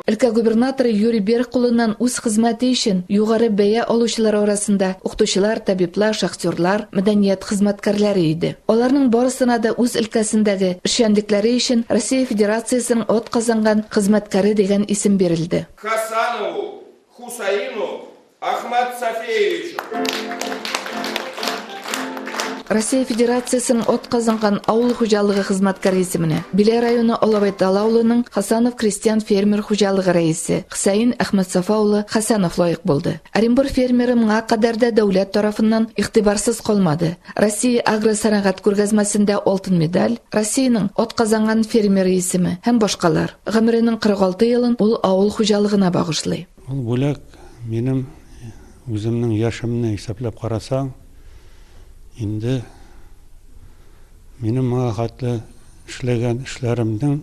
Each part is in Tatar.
Өлкә губернаторы Юрий Берг кулыннан үз хезмәте өчен югары бәя алучылар арасында укытучылар, табиблар, шахтерлар, мәдәният хезмәткәрләре иде. Аларның барысына да үз өлкәсендәге эшчәнлекләре өчен Россия Федерациясенең от казанган хезмәткәре дигән исем бирелде. Хасанову Хусаину Ахмат Сафеевичу! Россия Федерациясенең атказанган авыл хуҗалыгы хезмәткәре исеменә Биләй районы Алабай Талы авылының Хасанов крестьян-фермер хуҗалыгы рәисе Хөсәен Әхмәтсафа улы Хәсәнов лаек булды. Оренбур фермеры моңа кадәр дә дәүләт тарафыннан игътибарсыз калмады. Россия агросәнәгать күргәзмәсендә алтын медаль, Россиянең атказанган фермеры исеме һәм башкалар. Гомеренең 46 елын ул авыл хуҗалыгына багышлый. Ул бүләк, минем үземнең яшемне исәпләп карасаң, инде минем моңа хәтле эшләгән эшләремнең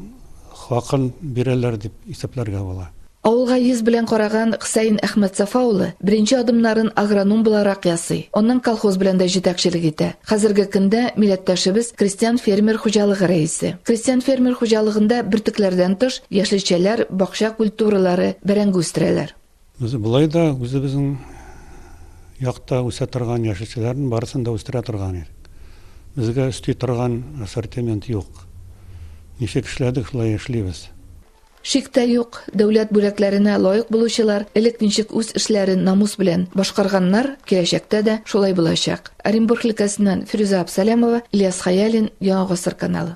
хакын бирәләр дип исәпләргә була. Авылга йөз белән караган Хсәен Әхмәтсафа улы беренче адымнарын агроном буларак ясый, аннан колхоз белән дә җитәкчелек итә. Хәзерге көндә милләттәшебез крестьян-фермер хуҗалыгы рәисе. Крестьян-фермер хуҗалыгында бөртекләрдән тыш, яшелчәләр, бакча культуралары, бәрәңге үстерәләр. Без болай да үзебезнең якта үсә торган яшелчәләрнең барысын да үстерә торган идек. Безгә өсти торган ассортимент юк. Ничек эшләдек, шулай эшлибез. Шик тә юк, дәүләт бүләкләренә лаек булучылар элек ничек үз эшләрен намус белән башкарганнар, киләчәктә дә шулай булачак. Оренбург өлкәсеннән Фирүзә Абсалямова, Ильяс Хәялин, Яңа гасыр каналы.